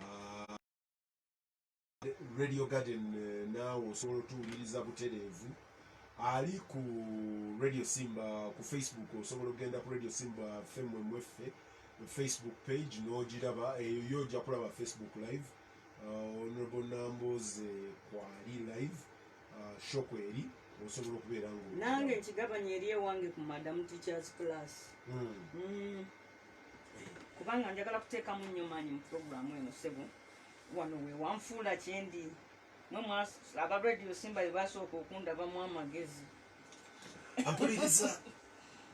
ah, radio garden eh, naawe osobola otuwuliriza butereevu ali ku radio simba ku facebook osobola okugenda ku radio simba femwe mweffe facebook page n'ogiraba eyo eh, yo ojja kulaba facebook live ah, honorable namboze kwali live ah, shop eri osobola okubeera nga nange nkigabanya eri ewange ku madam teachers class mm. Mm. kubanga njagala kuteekamu nnyo maanyi mu puroguramu eno ssebo wano we wanfuula kyendi mwe aba radio simba be basooka okundabamu amagezi ampuliriza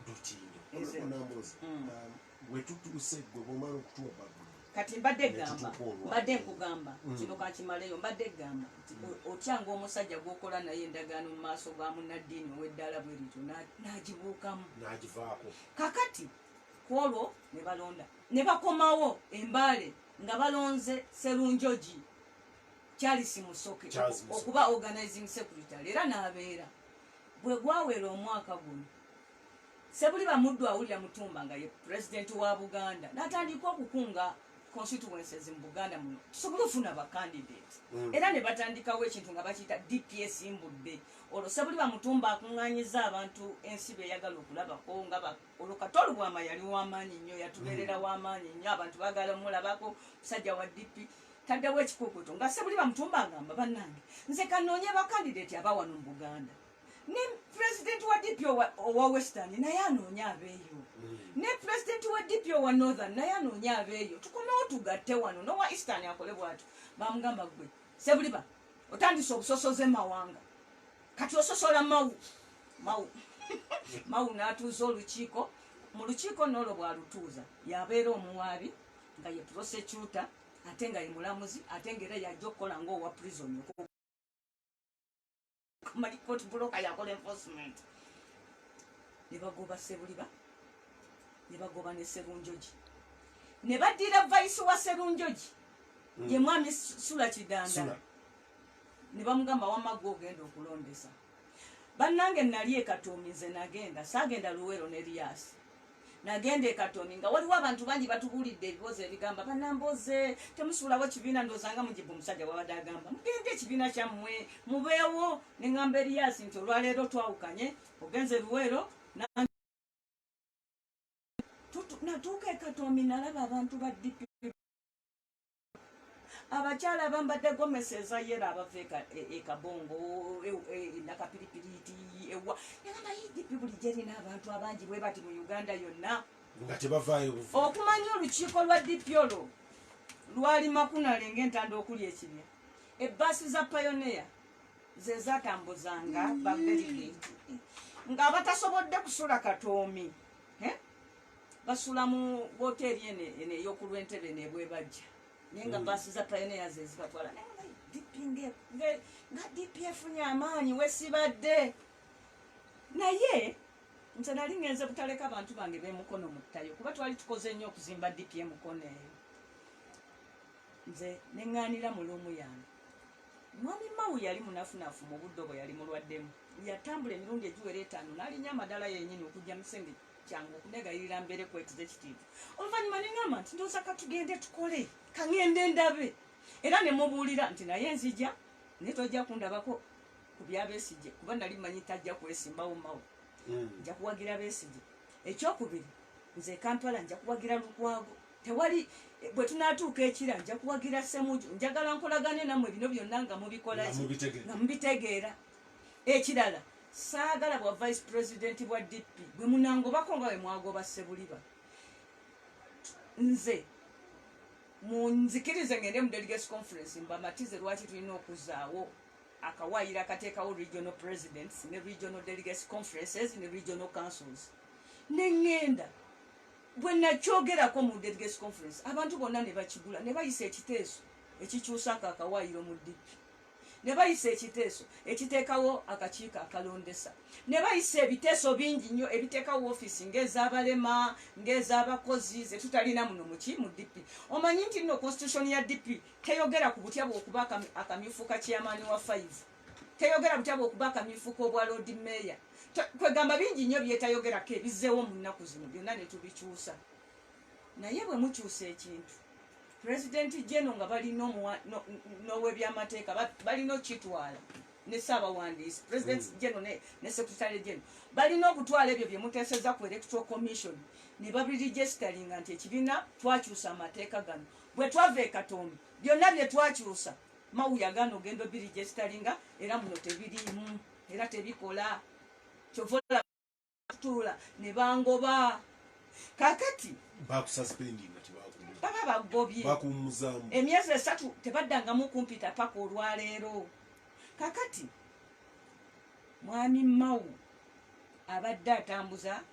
dutindo onambuuza mm. um, wetutuuse gwe bwomala okutuwa babu kati mbadde gamba mbadde nkugamba mm. kino kakimaleyo mbadde gamba mm. otyanga omusajja gwokola naye endagaano mu maaso ga munaddiini ow'eddala bwe lityo n'agibuukamu n'agivaako kakati kwolwo ne balonda ne bakomawo embaale nga balonze serunjoji charles musoke okuba organizing secretary era n'abeera bwe gwawera omwaka guno sebuli bamuddu awulira mutumba nga ye pulezidenti wa buganda n'atandika okukunga constituences mu buganda muno tusobole ofuna bacandidate mm. era ne batandikawo ekintu nga bakiyita dps mbudde olwo sebuli bamutumba akunganyiza abantu ensi beyagala okulabako nga olwo kato lubwama yali wamaanyi nnyo yatubeerera hmm. wamaanyi nnyo abantu bagala omulabako musajja wa dp taddewo ekikukuto nga sebuli bamutumba agamba bannange nze kanoonye bakandidati aba wano mu buganda ne pulezidenti wa dp owa western naye anoonye abeeyo hmm. ne pulezidenti wa dp owa northern naye anoonye abeeyo tukomewo tugatte wano nowa eastern akole bwatyo bamugamba gwe sebuliba otandise obusosoze mawanga kati ososola mawu mawu mawu n'atuuza olukiiko mu lukiiko n'olwo bw'alutuuza y'abeera omuwaabi nga ye prosecuta ate nga ye mulamuzi ate nga era yajja okukola ng'owa prison mali court broker yakola enforcement ne bagoba sebuliba ne bagoba ne serunjoji ne baddira vice wa serunjoji hmm. ye mwami sula kidanda ne bamugamba wamma gwe ogenda okulondesa bannange nali ekatoomi nze nagenda saagenda luweero ne riyaasi nagenda ekatoomi nga waliwo abantu bangi batubuulidde ebiboozi ebigamba banamboze temusuulawo ekibiina ndoozanga mujibu omusajja wabadde agamba mugende ekibiina kyammwe mubeewo ne ngamba eriyaasi nti olwaleero twawukanye ogenze luweero natuuka ekatoomi nalaba abantu ba dp abakyala abambadde gomesi ezayera abava ekabongo e e, e, nakapiripiriti ewa nagamba idp buli gyerina abantu abangi bwe bati mu uganda yonna nga tebavaayo okumanya olukiiko lwa dp olwo lwali makunale ngaentanda okuli ekibya ebbaasi za payoneya ze zatambuzanga babeligeti ng'abatasobodde kusula katoomi basula mu woteeri eno eno eyokulwa entebe nebwebajja naye nga mm. baasi za payoneya ze zibatwala naye nga dp nga dp efunye amaanyi wesibadde naye nze nali ngenze butaleka abantu bange bemukono muttayo kuba twali tukoze nnyo okuzimba dp emukono eyo nze neŋŋaanira mu luumu yange mwami mawu yali munafunafu mu buddo bwe yali mulwaddemu yatambula emirundi egiwera etaano n'alinya amadala yennyini okujja musengeki kyange okunegayirira mbeere ku executive oluvannyuma ne ŋamba nti ndooza ka tugende tukole ka ŋende ndabe era ne mubuulira nti naye nzija naye tojja kundabako ku bya Besigye kuba nali mmanyi tajja kwesimbawo mawo hmm. nja kuwagira Besigye ekyokubiri nze ekampala nja kuwagira Lukwago tewali eh, bwe tunaatuuka ekira nja kuwagira Semuju njagala nkolagane nammwe bino byonna nga mubikola nga mubitegeera ekirala Saagala bwa vice president bwa DP bwe munangobako nga bwe mwagoba Ssebuliba. Nze munzikirize ngende mu delegates conference mbamatize lwaki tulina okuzaawo akawaayiro akateekawo regional presidents ne regional delegates conferences ne regional councils ne ŋŋenda bwe nakyogerako mu delegates conference abantu bonna ne bakigula ne bayisa ekiteeso ekikyusaako akawaayiro mu DP. ne bayisa ekiteeso ekiteekawo akakiiko akalondesa ne bayisa ebiteeso bingi nnyo ebiteekawo ofiisi ng'ez'abalema ng'ez'abakozi ze tutalina muno muki mu dp omanyi nti nno constitution ya dp teyogera ku butya bw'okuba akamyufu ka chairman wa five teyogera butya bw'okuba akamyufu k'obwa lord mayor kwegamba bingi nnyo byetayogerako ebizzeewo mu nnaku zino byonna ne tubikyusa Naye bwe mukyusa ekintu pulezidenti jeno nga bali n'owebyamateeka balina okukitwala ne ssaabawandiisi pulezidenti mm. jeno ne sekretary jeno balina okutwala ebyo bye muteeseza ku electoral commission ne babirijisitalinga nti ekibiina twakyusa amateeka gano bwe twava e katonda byonna bye twakyusa mawu yagaana ogenda obirijisitalinga era muno tebiriimu era tebikola kyova tuula ne bangoba kakati baba bagobye emyezi esatu tebaddangamu kumpita paka olwaleero kakati mwami mawu abadde atambuza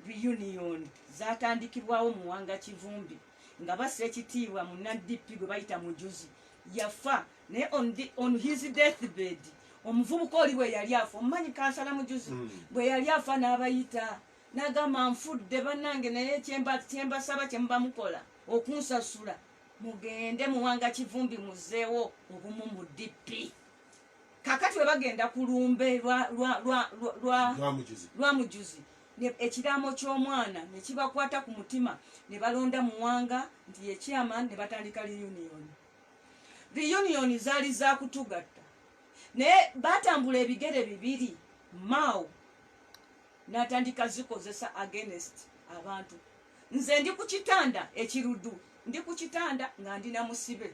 reunion zatandikibwawo muwanga kivumbi nga basa ekitiibwa munadp gwe bayita mujuzi yafa naye on, the, on his death bed omuvubuka oli bwe yali afa omumanyi kansala mujuzi mm. bwe yali afa n'abayita nagamba nfudde bannange naye kyembasaba kyemuba mukola okunsasula mugende muwanga kivumbi muzeewo obumu mu dp kakati we bagenda ku lumbe lwa mujuzi ekiraamo ky'omwana ne kibakwata ku mutima ne balonda muwanga nti yekyama ne batandika reunioni reunion zaali za kutugatta naye batambula ebigere bibiri mao natandika zikozesa against abantu nze ndi ku kitanda ekirudu ndi ku kitanda nga ndi na musibe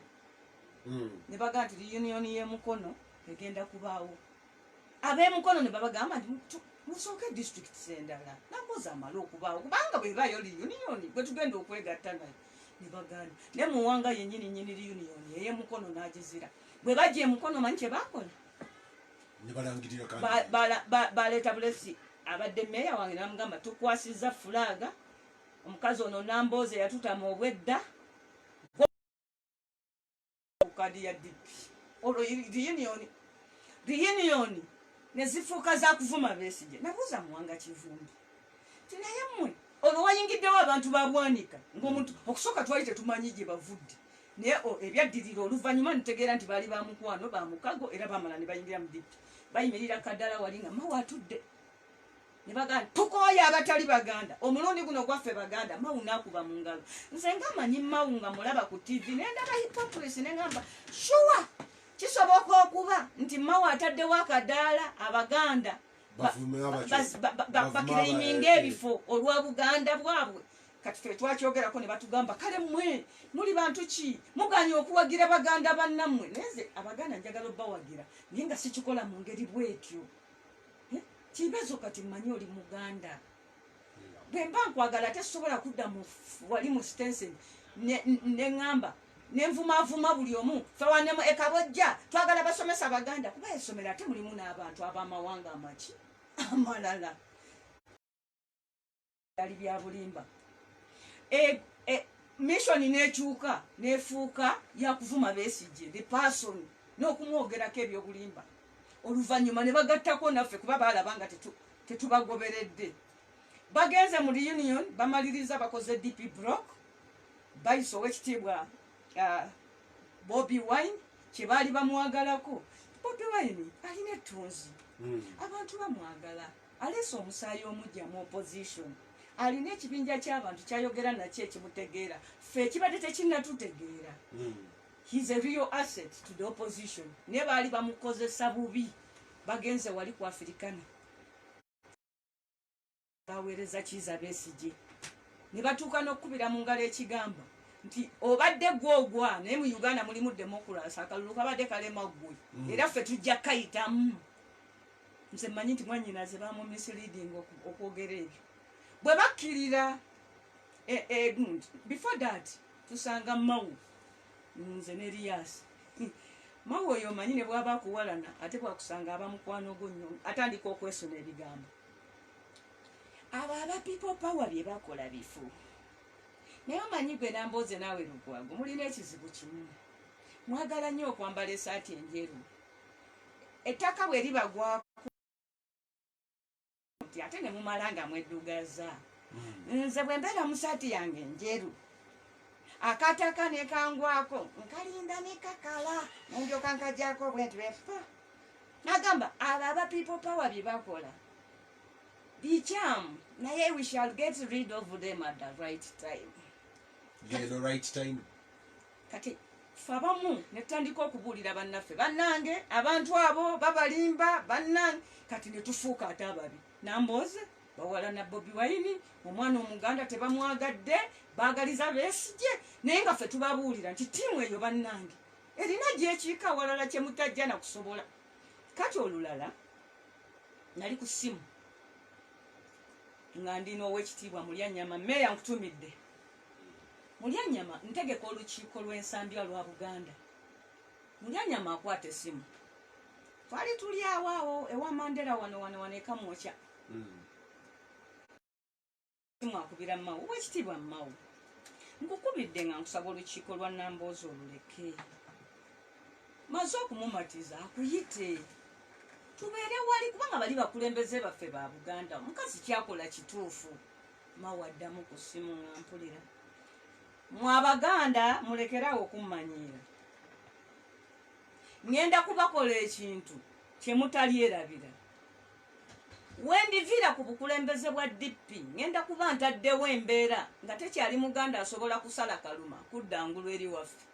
hmm. ne baga nti reunion y'emukono egenda kubaawo ab'emukono ne babagamba nti musooke disitulikiti z'endala nakoza amala okubaawo kubanga bwebaayo reunion gwe tugenda okwegatta nayo ne bagaana ne muwanga yenyini nyini union eye mukono n'agizira bwe bajja emukono manyi kye baakola baleeta bulesi abadde meeya wange namugamba tukwasiza fulaaga omukazi ono namboozi eyatutama obwedda kadi ya dp olwo reunion reunion nezifuuka zakuvuma besije nabuuza muwanga kivumbi tinaye mwe olwo wayingiddewo abantu babwanika ngaomuntu okusooka twali tetumanyi gye bavudde naye ebyaddirira oluvannyuma nitegeera nti baali bamukwano bamukago era bamala ne bayingira mu dp bayimirira kaddala wali nga mawe atudde nebaganda tukooye abatali baganda omulundi guno gwaffe baganda mawu nakuba mu ngalo nze nga manyi mawu nga mulaba ku tv nendaba hypocrisy nengamba shuwa kisoboka okuba nti mawu ataddewo akadaala abaganda bakireiminga ebifo olwa buganda bwabwe kati fe twakyogerako ne batugamba kale mwe muli bantu ki muganye okuwagira baganda bannammwe naye nze abaganda njagala obawagira naye nga sikikola mu ngeri bwetyo Eh, kibezo kati manyi oli muganda bwemba nkwagala ate sisobola kudda mu wali mu stensin neŋamba nenvumavuma buli omu fewanemu ekabojja twagala basomesa baganda kuba esomero ate mulimu n'abantu ab'amawanga amaki amalala byali byabulimba e, e, mission nekyuka nefuuka yakuvuma besije the person nokumwogerako ebyobulimba oluvanyuma nebagattako naffe kuba balaba nga tetubagoberedde bagenze mu reunion bamaliriza bakoze dp brock bayisa owekitiibwa uh, bobi wine kyebaali bamwagalako bobi wine alina ettunzi hmm. abantu bamwagala Aleese omusaayi omujja mu opposition. Alina ekibinja ky'abantu kyayogera nakyo ekimutegeera. Ffe ekibadde tekinnatutegeera. Hmm. He is a real asset to the opposition. Ne baali bamukozesa bubi. Bagenze wali ku Afirikana. Baweereza kiiza besigye. Ne batuuka n'okukubira mu ngalo ekigambo nti obadde gwe ogwa naye mu Uganda mulimu demokulasi akalulu kabadde kalema ggwe. Hmm. Era ffe tujja kayitamu. nze manyi nti mwanyinaze bamumisleading okwogera ebyo bwe bakkirira e- egundi before that tusanga mawu nze ne liyasi mawu oyo omanyi ne bwaba akuwalana ate bwakusanga abamukwano gwo nyo atandika okwesuna ebigambo abo aba people power bye bakola bifu naye omanyi gwe nambooze naawe lugwago mulina ekizibu kimu mwagala nnyo okwambala esaati enjeru ettaka bwe libagwako nti ate ne mumala nga mweddugaza hmm. nze bwe mbeera mu saati yange njeru akataka ne kangwako nkalinda ne kakala nendyoka nkajako bwe nti befa nagamba abo aba people power bye bakola bikyamu naye we shall get rid of them at the right time the right time kati fe abamu netutandika okubuulira bannaffe bannange abantu abo babalimba bannange kati netufuuka ate ababi nambooze bawala na bobi wayini omwana omuganda tebamwagadde baagaliza besigye naye nga fe tubabuulira nti tiimu eyo bannange erina gyekiika awalala kyemutajja nakusobola kati olulala nali ku ssimu nga ndi n'owekitiibwa mulya nnyama meeya nkutumidde Mulyanyama, Ntegeka olukiiko lw'ensambya lwa Buganda. Mulyanyama akwata essimu. Twali tuli awo awo ewa Mandela wano wano wano e Kamwokya. Ssimu akubira Mao. Oweekitiibwa Mao, nkukubidde nga nkusaba olukiiko lwa Nambooze oluleke. Maze okumumatiza akuyite tubeere wali kubanga bali bakulembeze baffe ba Buganda. Omukazi kyakola kituufu. mawa addamu ku ssimu nga mpulira mwe abaganda mulekerawo okummanyiira ŋŋenda kubakola ekintu kye mutalyerabira wendiviira ku bukulembeze bwa dp ŋŋenda kuba ntaddewo embeera nga tekyali muganda asobola kusala kaluma kudda ngulu eri waffe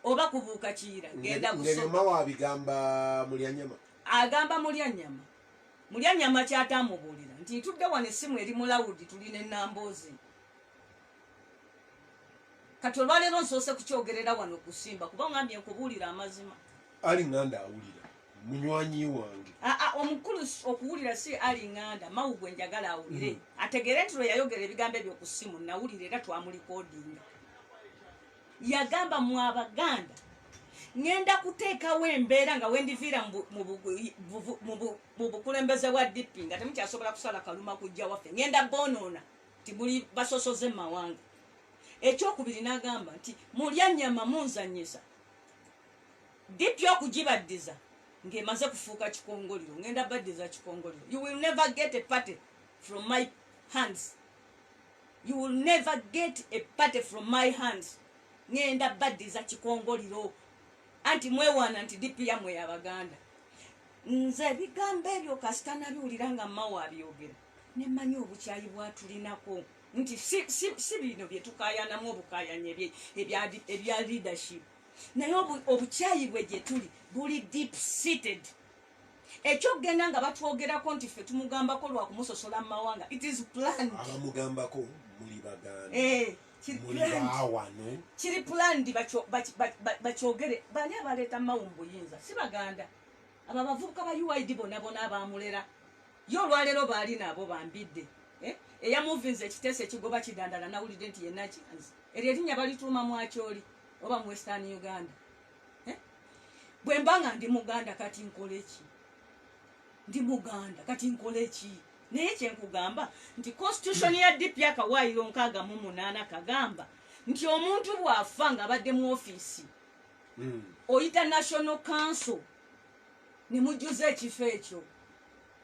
oba kubuuka kiyira genda kusomawa abigamba mulyanyama agamba mulyanyama Mulya nyama ki ate amubuulira nti ntudde wano essimu eri mu lawudi tuli ne Nambooze. Kati olwaleero nsoose kukyogerera wano kusimba kuba ngambye nkubuulira amazima. Ali nganda awulira munywanyi wange. Ah, ah, omukulu okuwulira si ali nganda mawu gwe njagala awulire mm. ategeere nti lwe yayogera ebigambo ebyo ku ssimu nawulira era twamulikoodinga. yagamba mu abaganda ngenda kuteekawo embeera nga wendiviira mu bukulembeze bwa dp nga temukyasobola kusala kaluma kujja waffe ngenda bonoona ti muli basosoze mumawanga ekyokubiri nagamba nti mulya nyama munzanyisa dp okugibaddiza ng'emaze kufuuka kikongoliro ngenda baddiza kikongoliro you will never get a party from my hands you will never get a party from my hands ngenda baddiza kikongoliro anti mwewaana nti dipu yamwe yabaganda nze ebigambo ebyo kasita nabiwulira nga mawo abyogera nemanyi obukyayi bwatulinako nti si bino byetukayanamu obukayanya ebya leadership naye obukyayi bwe gyetuli buli deep seated Ekyokugenda nga batwogerako nti ffe tumugambako lwa kumusosola mu mawanga it is planned. Abamugambako muli baganda. Eh, kiri Muli planned. baawano. Kiri planned bakyo- baki- baki- ba- bakyogere bani abaleeta mawu mu buyinza si baganda abo abavubuka ba uid bonabona abaamulera ye olwaleero baali nabo bambidde eh? eyamuvinza ekiteeso ekigoba kidandala nawulidde nti yenaki eryo erinnya balituuma mwakyoli oba mu western uganda eh? bwe mba nga ndi muganda kati nkole ki ndi muganda kati nkole ki naye kyenkugamba nti constitution ya dp akawaayiro nkaaga mu munaana kagamba nti omuntu bw'afa ng'abadde mu ofiisi hmm. oyita national council ne mujjuza ekifo ekyo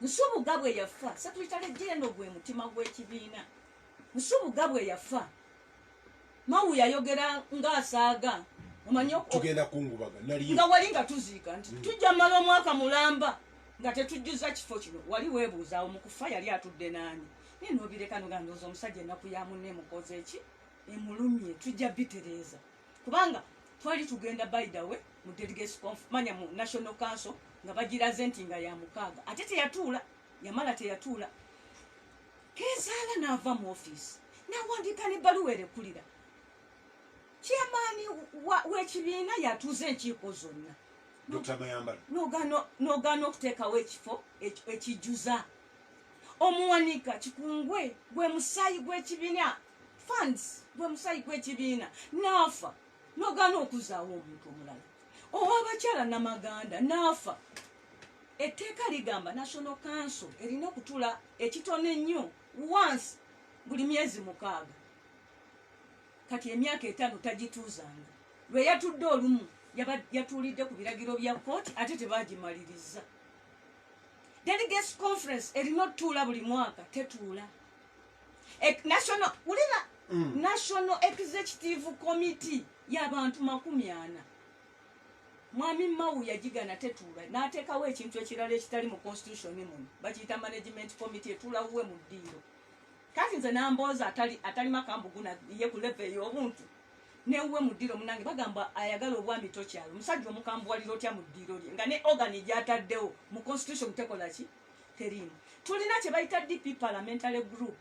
nsubuga bwe yafa satuyitale jeno gwe mutima gw'ekibiina nsubuga bwe yafa Mawu yayogera ng'asaaga omanyi tugenda kungubaga nali nga wali nga tuziika nti mm. tujja mala omwaka mulamba nga tetujjuza kifo kino wali weebuuzaawo mu kufa yali atudde naani naye nobireka nogandooza omusajja ennaku ya munne emukoze eki emulumye tujja bitereeza kubanga twali tugenda by the way mu delegates conf manya mu national council nga bagiraze nti nga ya mukaaga ate teyatuula yamala teyatuula kezaala n'ava mu ofiisi n'awandiika n'ebbaluwa erekulira kyamaani w'ekibiina yatuuza enkiiko zonna n'ogaana okuteekawo ekifo ekijjuza omuwanika kikungwe gwe musaayi gw'ekibiina funds gwe musaayi gw'ekibiina n'afa n'ogaana okuzaawo omuntu omulala owabakyala namaganda n'afa Etteeka ligamba National Council erina okutula ekitono ennyo once buli myezi mukaaga. Kati emyaka etaano tagituuzanga. Lwe yatudde olumu yatuulidde ku biragiro bya kkooti ate tebaagimaliriza. Delegates Conference erina otutuula buli mwaka tetuula. E, national wulira mm. National Executive Committee y'abantu makumi ana Mwami Mao yagigana tetuula n'ateekawo ekintu ekirala ekitali mu konsitusiyoni muno bakiyita management committee etuula wuwe mu ddiiro. Kati nze nambooza atali atali makambugu na ye ku leve ey'obuntu ne wuwe mu ddiiro munange bagamba ayagala obwami tokyalo musajja omukambuwalira otya mu ddiiro lye nga ne ogani gyataddewo mu konsitusiyoni tekola ki teriimu. Tulina kye bayita DP parliamentary group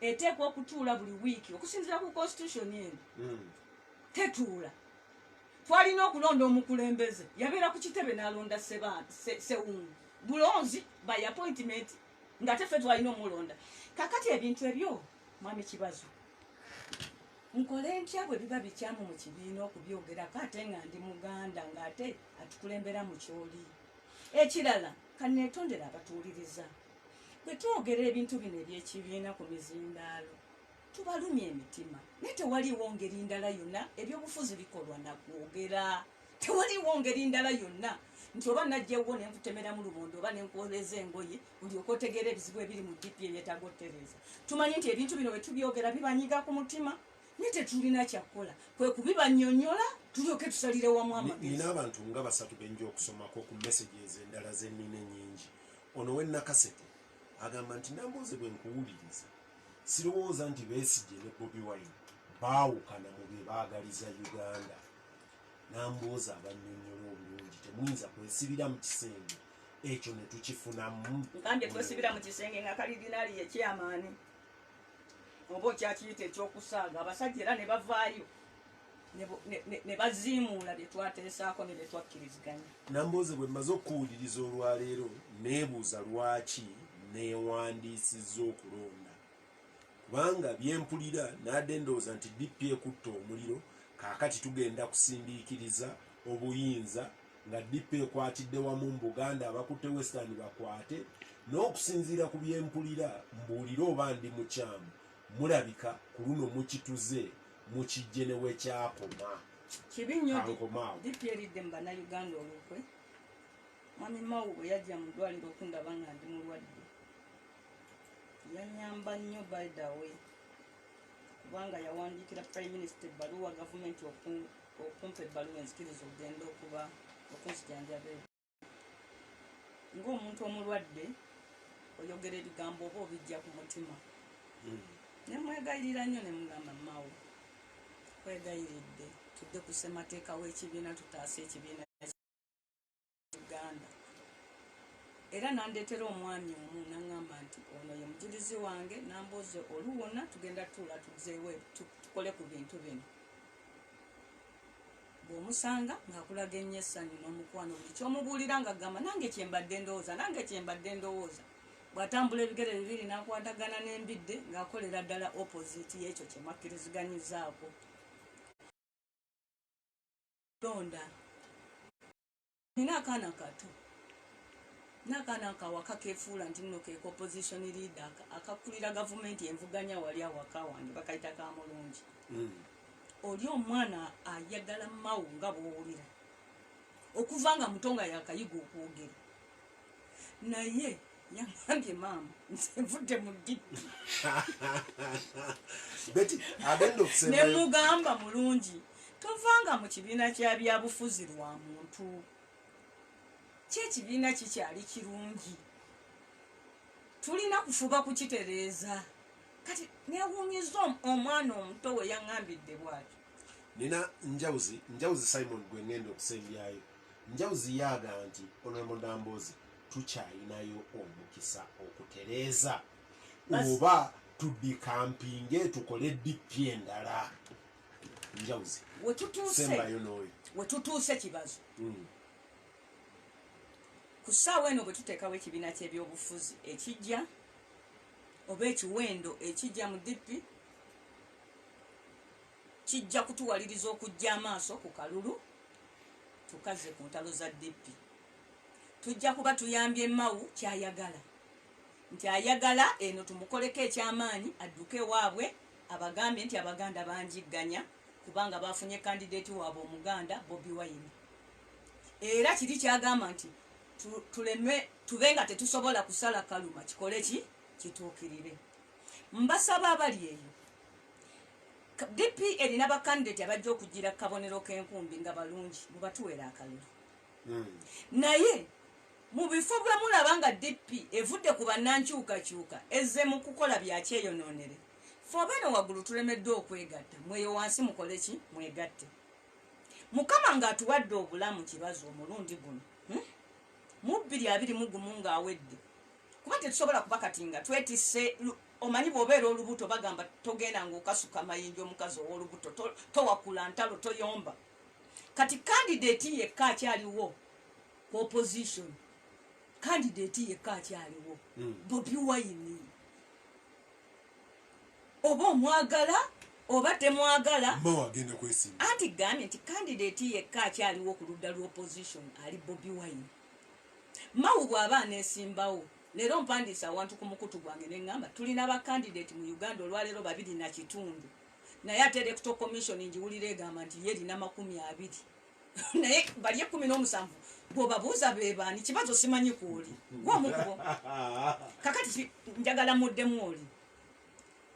eteekwa okutuula buli wiiki okusinziira ku konsitusiyoni eno hmm. tetuula. twalina okulonda omukulembeze yabeera ku kitebe n'alonda sewungu bulonzi by appointment nga tefe twalina omulonda kakati ebintu ebyo mwami kibazo nkole ntya bwe biba bikyamu mu kibiina okubyogerako ate nga ndi muganda ng'ate atukulembera mu kyoli ekirala kaneetondera abatuwuliriza bwe twogera ebintu bino eby'ekibiina ku mizindaalo Tubalumya emitima naye tewaliiwo ngeri ndala yonna ebyobufuzi bikolwa nakwogera tewaliiwo ngeri ndala yonna nti oba najjewwo nenkutemeramu lubondo oba nenkwoleza engoye olyoka otegeera ebizibu ebiri mu dp ebyetaga otereeza tumanyi nti ebintu bino bwetubyogera bibanyiga ku mutima naye tetulina kyakkola kwe kubibanyonyola tulyoke tusalire wamu amagezi abantu nga basatu benja okusomako ku meseji ezo endala zenina enyingi ono wenakasete agamba nti nambooze bwenkuwuliriza sirowooza nti besigye ne bobi wine baawukana mu bye baagaliza uganda nambooza abanyonyola obulungi temuyinza kwesibira mu kisenge ekyo ne tukifunamu nkande kwesibira mu kisenge nga kalidinaali yekyamaani oba okyakiyita ekyokusaaga abasajja era ne bavaayo ne baziimuula bye twateesaako ne bye twakkiriziganya nambooze bwe mmaze okukuwuliriza olwaleero neebuuza lwaki neewandiisizza okulonda kubanga bye mpulira naadde ndowooza nti dp ekutta omuliro kaakati tugenda kusindiikiriza obuyinza nga dp ekwatidde wamu mu buganda abakutte western bakwate n'okusinziira ku bye mpulira mbuulire oba ndi mukyamu mulabika ku luno mukituze mukijje ne wekyakoma kibi nnyo dipi eridde mu bannayuganda olukwe mwami mawu bwe yajja mu ddwaliro okundaba nga ndi mulwadde yanyamba nnyo by the way kubanga yawandiikira prime minister ebbaluwa gavumenti okumpa ebbaluwa enzikiriza okugenda okuba okunzijanjaba ng'omuntu omulwadde oyogera ebigambo oba obijja ku mutima hmm. ne mwegayirira nnyo ne mugamba mawo kwegayiridde tudde ku ssemateeka w'ekibiina tutaasa ekibiina uganda era nandeetera omwami omu naŋŋamba nti ono ye mujulizi wange nambooze oluwona tugenda tuula tuzeewo tukole ku bintu bino bw'omusanga ng'akulaga ennyo essanyu n'omukwano buli ky'omubuulira ng'agamba nange kye mbadde ndowooza nange kye mbadde ndowooza bw'atambula ebigere bibiri n'akwatagana n'embidde ng'akolera ddala opoziti y'ekyo kye mwakkiriziganyizaako londa Nina akaana kato nakaana akawaka kefuula nti nno ke opposition leader akakulira gavumenti envuganya wali awaka wange bakayita ka mulungi mm. oli omwana ayagala mawu nga bwowulira okuva nga muto nga yakayiga okwogera naye yamwange maama nsenvudde mu dippi ne mugamba mulungi tovanga mu kibiina kya byabufuzi lwa muntu kyekibiina kikyali kirungi tulina kufuba kukitereeza kati newunyiza omwana omuto we yaŋambidde bwatyo nina njawuzi njawuzi simon gwe ŋenda okusembyayo njawuzi yaaga nti onomulambozi tukyalinayo omukisa okutereeza oba tudikampinge tukole dp endala njawuzi sembayo nooyo wetutuuse kibazo hmm. ku ssaawa eno bwe tuteekawo ekibiina ky'ebyobufuzi ekijja oba ekiwendo ekijja mu dp kijja kutuwaliriza okujja amaaso ku kalulu tukaze ku ntalo za dp tujja kuba tuyambye Mao ky'ayagala nti ayagala eno tumukoleko eky'amaanyi adduke ewaabwe abagambye nti Abaganda banjigganya kubanga baafunye kandideeti waabwe Omuganda Bobi Wine era kiri ky'agamba nti tuleme tube nga tetusobola kusala kaluma kikole ki kituukirire mbasaba abali eyo dp erina bakandidate abajja okugira kabonero k'enkumbi nga balungi mubatuwera akalulu hmm. naye mu bifo bwe mulaba nga dp evudde ku bannankyukakyuka ezze mu kukola byakyeyonoonere fe abaana waggulu tulemeddwa okwegatta mweyo wansi mukole ki mwegatte mukama ng'atuwadde obulamu kibazi omulundi guno hmm? mu bbiri abiri mu gumu ng'awedde kuba tetusobola kuba kati nga twetisse omanyi bwobeera olubuto bagamba togenda ngaokasuka mayinja omukazi owolubuto towakula ntalo toyomba kati candidate yekka akyaliwo ku opposition candidate yekka akyaliwo hmm. bobi wine oba omwagala oba temwagala anti gambye nti candidate yekka akyaliwo ku ludda lwa opposition ali bobi wine mawu bw'aba aneesimbawo leero mpandiisa awantu ku mukutu gwange ne ŋŋamba tulina bakandidate mu uganda olwaleero babiri na kitundu naye ate electoral commission ngiwulira egamba nti ye erina makumi abiri naye bali ekumi n'omusanvu bwobabuuza bebaani kibazo simanyi kwoli gwomukubo kakati njagala muddemu oli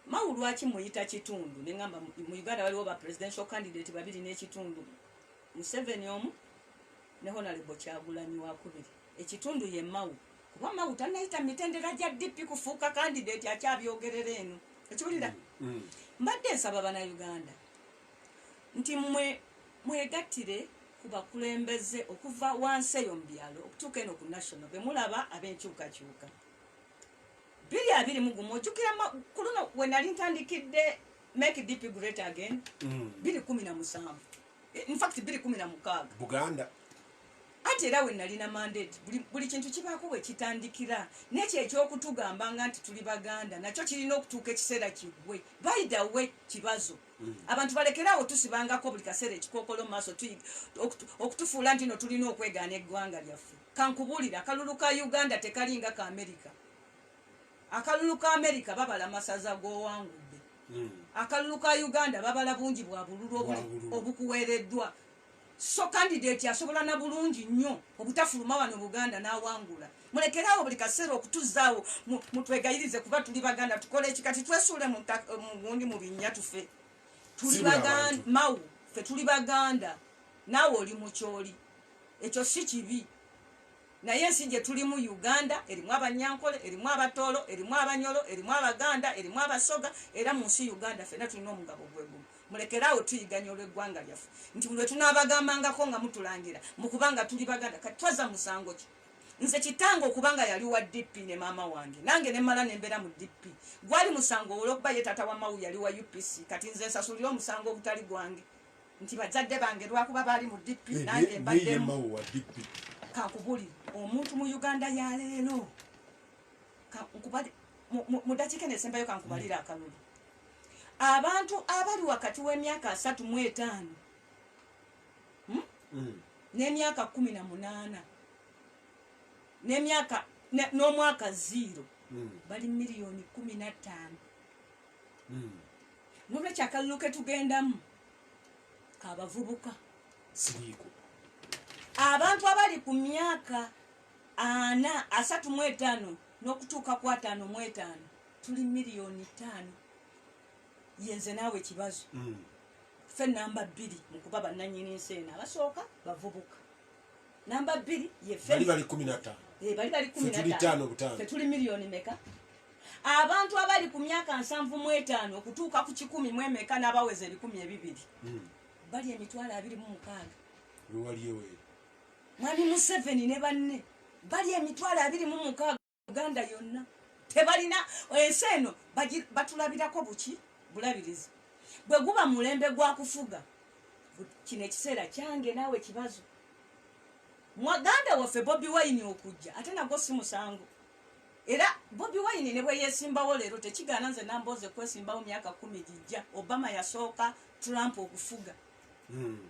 mawu lwaki muyita kitundu neŋamba mu uganda waliwo ba presidential candidate babiri n'ekitundu museveni omu ne honalebo kyagulanyi wakubiri ekitundu ye mawu kuba mawu tanayita mu mitendera gya dp kufuuka kandidate akyabyogerera eno okiwulira mm, mm. mbadde nsaba banauganda nti mwe mwegattire ku bakulembeze okuva wansi eyo mu byalo okutuuka eno ku national be mulaba ab'enkyukakyuka biri abiri mugumu ojukira ku luno wenali ntandikidde make dp great again mm. biri kumi na musanvu Eh, in fact biri kumi na mukaaga buganda anti era wenalina mandate buli kintu kibaako wekitandikira nekyo ekyokutugamba nga nti tuli baganda nakyo kirina okutuuka ekiseera kigwe baidawe kibazo mm. abantu balekeraawo tusibangako buli kaseera ekikokolo maaso okutufuula nti no tulina okwegaana eggwanga lyaffe kankubulira akalulu ka uganda tekalinga ka amerika akalulu ka amerika babala masaza gowangudde hmm. akalulu ka uganda babala bungi bwa bululu obukuweereddwa so kandidati asobola na bulungi nnyo obutafuluma wano buganda n'awangula mulekeraawo buli kaseera okutuzaawo mutwegayirize kuba tuli baganda tukole eki kati twesuule mugundi mu binnya tufe tuli baganda mawu fe tuli baganda naawe oli mukyoli ekyo si kibi Naye ensi gye tulimu Uganda erimu Abanyankole, erimu Abatooro, erimu Abanyoro, erimu Abaganda, erimu Abasoga era mu nsi Uganda fena tulina omugabo gwe gumu. Mulekere awo tuyiganya olw'eggwanga lyaffe nti lwe tunaabagambangako nga mutulangira mu kubanga tuli Baganda kati twaza musango ki? Nze kitange okubanga yali wa DP ne maama wange nange ne mala ne mbeera mu DP gwali musango olw'okuba ye taata wa Mawu yali wa UPC kati nze nsasulira omusango ogutali gwange. nti bajjadde bange lwakuba baali mu dp eh, nange mbaddemu kakubuli omuntu mu uganda yaleero mudakika nesembayo kankubalira hmm. akalulu abantu abali wakati w'emyaka asatu mu etaano hmm? hmm. n'emyaka kumi na munaana n'emyaka n'omwaka ziiro bali miliyoni kumi na ttaano hmm. nolwekyo akalulu ketugendamu kabavubuka siriiko abantu abali ku myaka ana asatu mu etaano n'okutuuka ku ataano mu etaano tuli miliyoni ttaano yenze naawe kibazo hmm. ffe namba bbiri mu kuba bannanyini nsi eno abasooka bavubuka namba bbiri yebali bali kumi nataano eh, bali bali kumi nataano fetuli miliyoni meka abantu abali ku myaka nsanvu mu etaano okutuuka ku kikumi mu emeka n'abaweza ebikumi ebibiri hmm. bali emitwalo abiri mu mukaaga mwami museveni ne banne bali emitwalo abiri mu mukaaga uganda yonna tebalina ensi eno batulabirako buki bulabirizi bwe guba mulembe gwa kufuga kino ekiseera kyange naawe kibazo mwaganda waffe bobi wayini okujja ate nagwo si musango era bobi wayini ne bweyesimbawo leero tekigaana nze nambooze kwesimbawo myaka kumi gijja obama yasooka trump okufuga hmm.